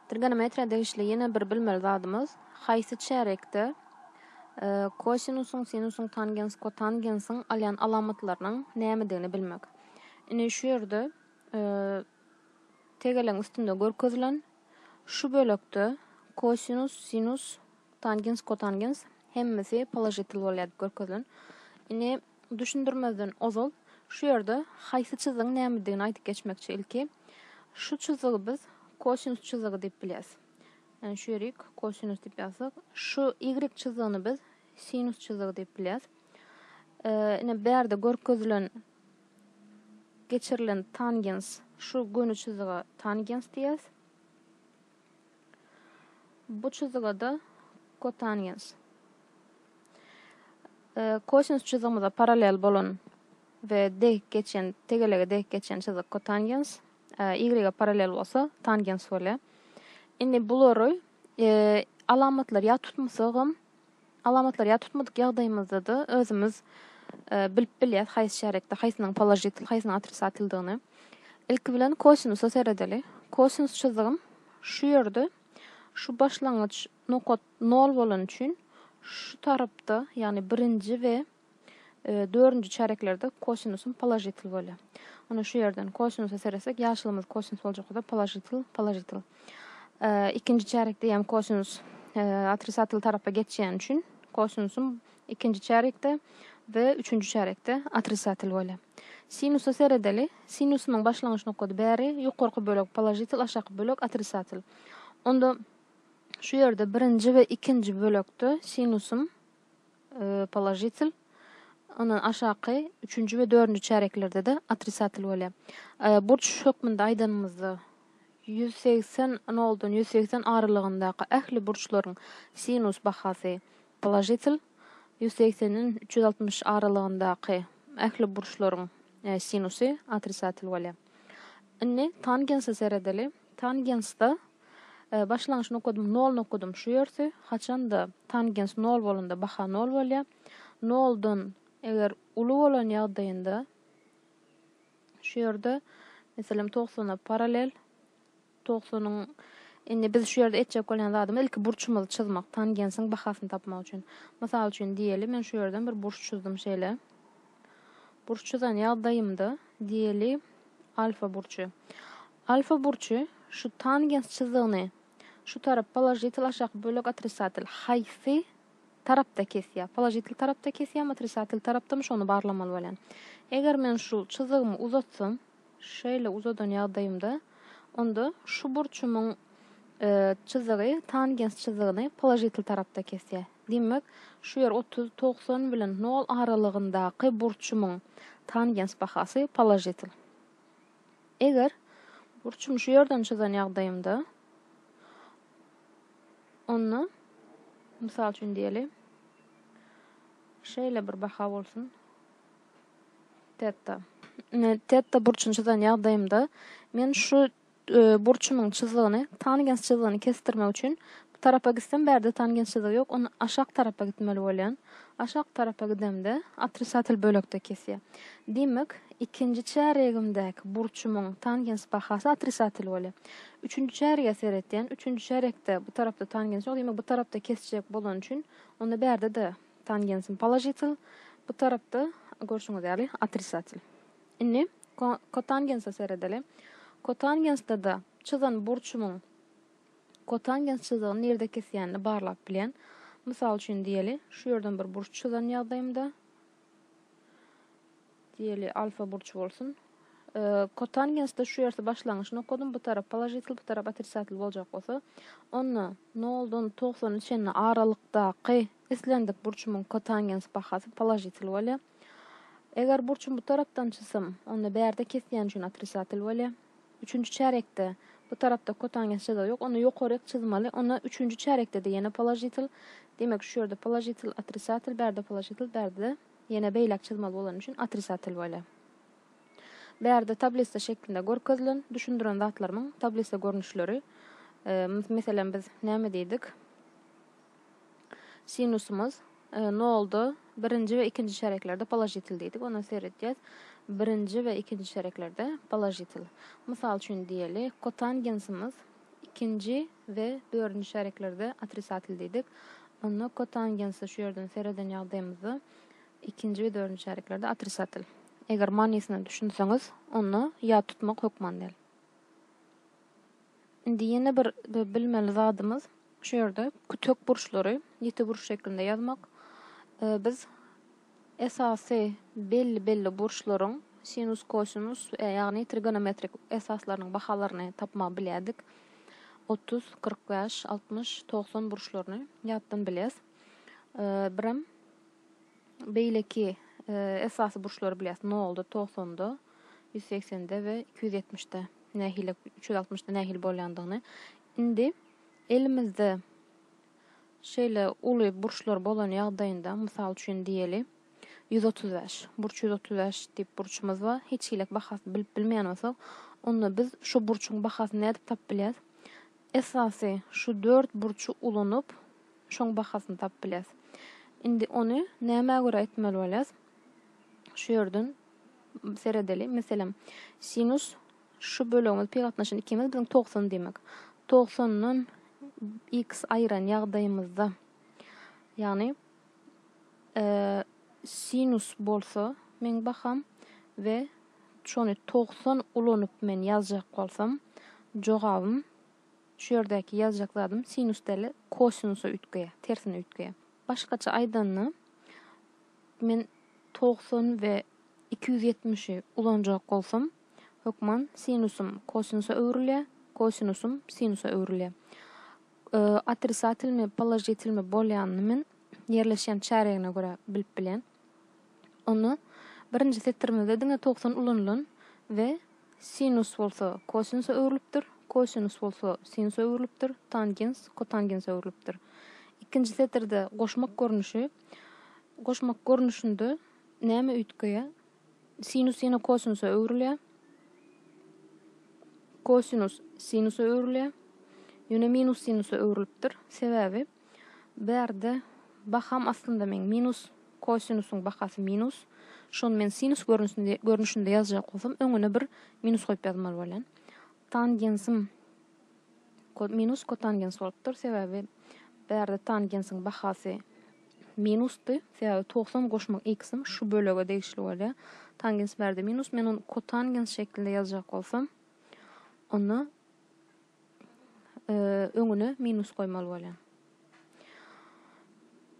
Trigonometriýa degişli ýene bir bilmeli zadymyz, haýsy çärýekde kosinusyň, sinusyň, tangens, kotangensiň alýan alamatlarynyň nämedigini bilmek. Indi şu ýerde tegelegiň üstünde görkezilen şu bölekde kosinus, sinus, tangens, kotangens hemmesi položitel bolýar diýip görkezilen. Indi Düşündirmezden ozal şu ýerde haýsy çyzygyň nämedigini aýdyp geçmekçi. Ilki şu çyzygy biz kosinus çyzygy diýip bilýäs. Ýagny şu ýeri kosinus diýip ýazsak, şu ýigrik çyzygyny biz sinus çyzygy diýip bilýäs. Ine bu ýerde görkezilen geçirilen tangens şu göni çyzyga tangens diýýäs. Bu çyzygada kotangens e, kosinus çyzygymyza parallel bolan we dek geçen, tegelege dek geçen çyzyk kotangens, e, y parallel bolsa tangens bolýar. Indi bulary e, alamatlar ýa tutmasa hem Alamatlary ýa tutmadyk ýagdaýymyzda-da özümiz bilip bilýäs haýsy çärekde haýsynyň položitil, haýsynyň otrisatildigini. Ilki bilen kosinusa seredeli. Kosinus çyzygym şu ýerde, şu başlangyç nokat nol bolany üçin şu tarapda, ýagny birinji we Dördünji çärýeklerde kosinusyň položitel bolýar. Ine şu ýerden kosinusa seretsek, ýaşylymyz kosinus boljak bolsa položitel, položitel. Ikinji çärýekde hem kosinus otrisatel tarapa geçýäni üçin kosinusyň ikinji çärýekde we üçünji çärýekde otrisatel bolýar. Sinusa seredeli. Sinusynyň başlangyç nokady bäri ýokarky bölek položitel, aşaky bölek otrisatel. Onda şu ýerde birinji we ikinji bölekde sinusyň položitel, ondan aşaky üçünji we dördünji çäreklerde-de otrisatel bolýar. Burç hökmünde aýdanymyzda, ýüz segsen noldan ýüz segsen aralygyndaky ähli burçlaryň sinus bahasy položitel, ýüz segsenden üç ýüz altmyş aralygyndaky ähli burçlaryň sinusy otrisatel bolýar. Indi tangensa seredeli. Tangensda Başlangyç nokadym nol nokadym şu ýersi. Haçanda tangens nol bolanda baha nol bolýar. Noldan eger uly bolan ýagdaýynda şu ýerde meselem togsana paralel togsanyň indi biz şu ýerde etjek bolýan zadymyz ilki burçumyzy çyzmak tangensiň bahasyny tapmak üçin. Mysal üçin diýeli men şu ýerden bir burç çyzdym şeýle. Burç çyzan ýagdaýymda diýeli alfa burçy. Alfa burçy şu tangens çyzygyny şu tarap položitel aşaky bölek otrisatel haýsy tarapda kesýär? Položitel tarapda kesýärmi otrisatel tarapdamy şony barlamaly bolýan. Eger men şu çyzygymy uzatsam şeýle uzadan ýagdaýymda onda şu burçumyň çyzygy tangens çyzygyny položitel tarapda kesýär. Diýmek şu ýer otuz togsan bilen nol aralygyndaky burçumyň tangens bahasy položitel. Eger burçumy şu ýerden çyzan ýagdaýymda, onda, mysal üçin diýeli, şeýle bir baha bolsun, teta. Ine, teta burçuny çyzan ýagdaýymda, men şu e, burçumyň çyzgyny, tangens çyzgyny kesdirmek üçin Tarapa gitsem bärde tangençlydigi ýok onda aşak tarapa gitmeli bolýan. Aşak tarapa gidemde otrisatel bölekde kesýär. Diýmek ikinji çärýegimdäki burçumyň tangens bahasy otrisatel bolýar. Üçünji çärýege seretýän üçünji çärýekde bu tarapda tangens ýok diýmek bu tarapda kesjek bolany üçin onda bärdede tangensim položitel bu tarapda görşüňiz ýaly otrisatel. Indi kotangensa seredeli. Kotangensdada çyzan burçumyň Kotan ýazyjydygyny nirde kesýänini barlap bilýän. Mysal üçin diýeli, şu ýerden bir burç çyzan ýagdaýymda, diýeli, alfa burç bolsun. Kotangenste şu ýersi başlangyç nokadym, bu tarap položitl, bu tarap otricatl boljak bolsa, onda noldan togsana çenli aralykdaky islendik burçumyň kotangens bahasy položitl bolýar. Eger burçumy bu tarapdan çyzsam, onda bärde kesýän üçin otricatl bolýar. Üçünji çärekde, bu tarapda kotangens jaza ýok, ony ýokaryk çyzmaly, onda üçünji çärekde-de ýene položitel, demek şu ýerde položitel, otrisatel, bärde položitel, bärde-de ýene beýläk çyzmaly bolany üçin otrisatel bolýa. Bärde tablisa şeklinde görkezilen, düşündiren zatlarymyň tablisa görnüşleri, meselem biz näme diýdik? Sinusymyz nolda birinji we ikinji çäreklerde položitel diýdik. Onda seredýäs. Birinji we ikinji çäreklerde položitel. Mysal üçin diýeli, kotangensimiz ikinji we dördünji çäreklerde otrisatel diýdik. Onda kotangensi şu ýerden sereden ýagdaýymyzda ikinji we dördünji çäreklerde otrisatel. Eger manysyna düşünseňiz, onda ýat tutmak hökman däl. Indi ýene bir bilmeli zadymyz şu ýerde kütek burçlary ýiti burç şeklinde ýazmak. Biz esasy belli belli burçlaryň sinus, kosinus, ýagny trigonometrik esaslarynyň bahalaryny tapmagy bilýärdik. 30, 45, 60, 90 burçlaryny ýatdan bilýäs. Birem beýleki esasy burçlary bilýäs 0-da, 90-da. ýüz segsende we iki ýüz ýetmişde nähili, üç ýüz altmyşda nähili bolýandygyny. Indi elimizde şeýle uly burçlar bolan ýagdaýynda, mysal üçin diýeli, ýüz otuz bäş, burç ýüz otuz bäş diýip burçumyz bar. Hiç hilek bahasyny bilip bilmeýän bolsak, onda biz şu burçuň bahasyny nädip tapyp bilýäs? Esasy şu dört burçy ulanyp, şoň bahasyny tapyp bilýäs. Indi ony nämä görä etmeli bolýas? Şu ýerden seredeli. Meselem, sinus şu bölegimiz pi gatnaşan ikimiz biziň togsan diýmek. Togsandan x aýyran ýagdaýymyzda, ýagny sinus bolsa meň baham we şony togsan ulanyp men ýazjak bolsam, jogabym şu ýerdäki ýazjak zadym sinus däl-de kosinusa üýtgeýär, tersine üýtgeýär. Başgaça aýdanda, Men togsan we iki ýüz ýetmişi ulanjak bolsam, hökman sinusym kosinusa öwrülýär, kosinusym sinusa öwrülýär. Otrisatilmi, položitilmi bolýanyny men ýerleşýän çärýegine görä bilip bilýän. Onda birinji setirimizde diňe togsan ulanylan we sinus bolsa kosinusa öwrülipdir, kosinus bolsa sinusa öwrülipdir, tangens kotangense öwrülipdir. Ikinji setirde goşmak görnüşi. Goşmak görnüşinde näme üýtgeýär? Sinus ýene kosinusa öwrülýär. Kosinus sinusa öwrülýär. Ýöne minus sinusa öwrülipdir. Sebäbi bu ýerde baham aslynda men minus kosinusyň bahasy minus. Şony men sinus görnüşinde, görnüşinde ýazjak bolsam, öňüne bir minus goýup ýazmaly bolýan. Tangensim Kod minus kotangens bolupdyr, sebäbi bu ýerde tangensiň bahasy minusdy, sebäbi togsan goşmak x-im şu bölege degişli bolýar. Tangens bu ýerde minus, men ony kotangens şeklinde ýazjak bolsam, onda e, öňüne minus goýmaly bolýar.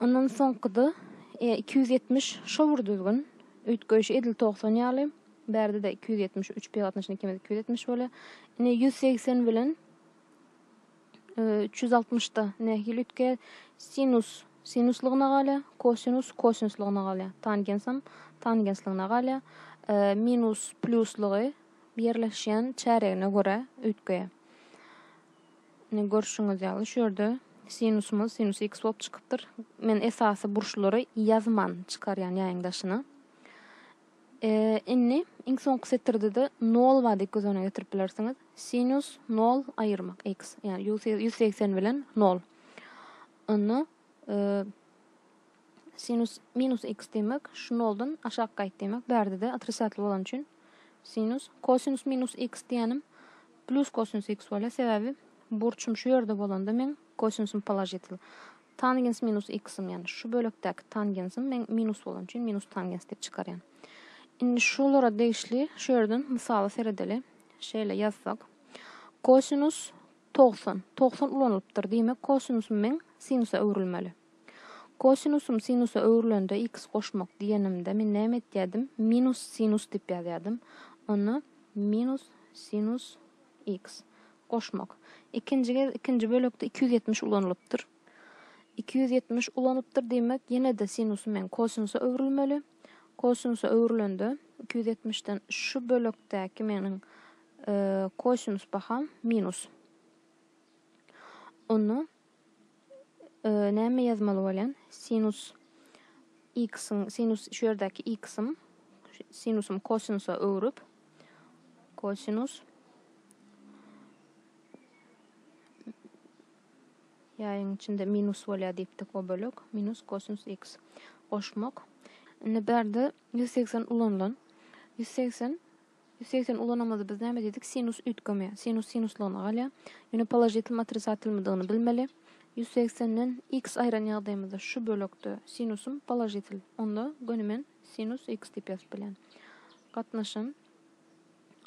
Ondan soňky-da iki ýüz ýetmiş şo bir düzgün. Üýtgeýşi edil togsan ýaly. Bärde-de iki ýüz ýetmiş üç pi gatnaşyny ikimiz iki ýüz ýetmiş bolýar. Ine ýüz segsen bilen üç ýüz altmyşda nähili üýtgeýär? Sinus sinuslygyna galýar, kosinus kosinuslygyna galýar. Tangensam tangensligine galýar. Minus pluslygy birleşýän çäregine görä üýtgeýär. Ine görşüňiz ýaly şu ýerde sinusumyz sinus x bolup çykypdyr. Men esasy burçlary ýazman çykarýan ýaýyň daşyna. E, indi iň soňky setirde-de nol bar diýip göz öňüne getirip bilersiňiz. Sinus nol aýyrmak x, ýagny ýüz segsen bilen nol. Onda e, Sinus minus x diýmek, şu noldan aşak gaýt diýmek. Bärde-de otrisatel bolany üçin sinus. Kosinus minus x diýýänim plus kosinus x bolýar, sebäbi burçum şu ýerde bolanda meň kosinusym položitel. Tangens minus x-im, ýagny şu bölekdäki tangensim meň minus bolany üçin minus tangens diýip çykarýan. Indi şulara degişli şu ýerden mysala seredeli. Şeýle ýazsak. Kosinus 90. 90 ulanylypdyr. Diýmek, kosinusym meň sinusa öwrülmeli. Kosinusym sinusa öwrülende X goşmak diýenimde men näme etýädim? Minus sinus diýip ýazýadym. Onda minus sinus X goşmak. Ikinji gez ikinji bölekde iki ýüz ýetmiş ulanylypdyr. Iki ýüz ýetmiş ulanypdyr diýmek, ýene-de sinusym men kosinusa öwrülmeli. Kosinusa öwrülende iki ýüz ýetmişden şu bölekdäki meniň kosinus baham minus. Onda Näme ýazmaly bolýan? Sinus x-iň, sinus şu ýerdäki x-im, sinusym kosinusa öwrüp, kosinus ýaýyň içinde minus bolýar diýipdik o bölek, minus kosinus x. Goşmak. Indi bärde 180 ulanylan. 180 Ýüz segsen ulanamyzda biz näme diýdik? Sinus üýtgeme. Sinus sinuslygyna galýar. Ýöne položitil matrisatilmidigini bilmeli. Ýüz segsenden x aýran ýagdaýymyzda şu bölekde sinusym položitil. Onda göni men sinus x diýip ýazyp bilýän. Gatnaşym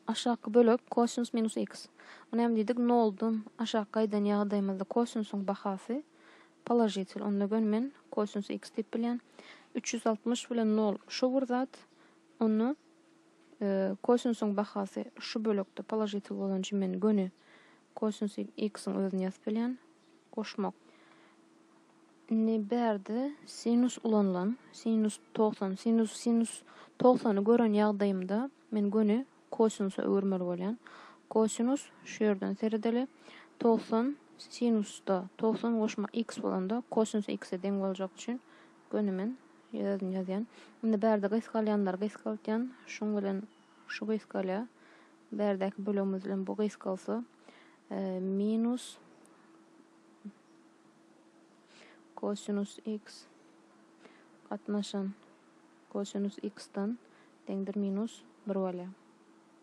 aşaky bölek kosinus minus x. Bu näme diýdik? Noldan aşak gaýdan ýagdaýymyzda kosinusyň bahasy položitil. Onda göni men kosinus x diýip bilýän. Üç ýüz altmyş bilen nol şu bir zat. Onda Kosinsiň bahasy şu bölekde položitel bolan üçin men göni kosinsi x-iň özüni ýazyp bilýän. Goşmak. Indi bärde sinus ulanylan. Sinus 90. Sinus sinus 90-y gören ýagdaýymda men göni kosinsa öwürmeli bolýan. Kosinus şu ýerden seredeli. 90 sinusda 90 goşma x bolanda kosinus x-e deň boljak üçin Göni men özüm ýazýan. Indi bärde gysgalýanlary gysgaldýan. Şuň bilen şu gysgalýar. Bärdäki bölegimiz bilen bu gysgalsa minus kosinus x gatnaşan kosinus x-den deňdir minus 1 bolýar.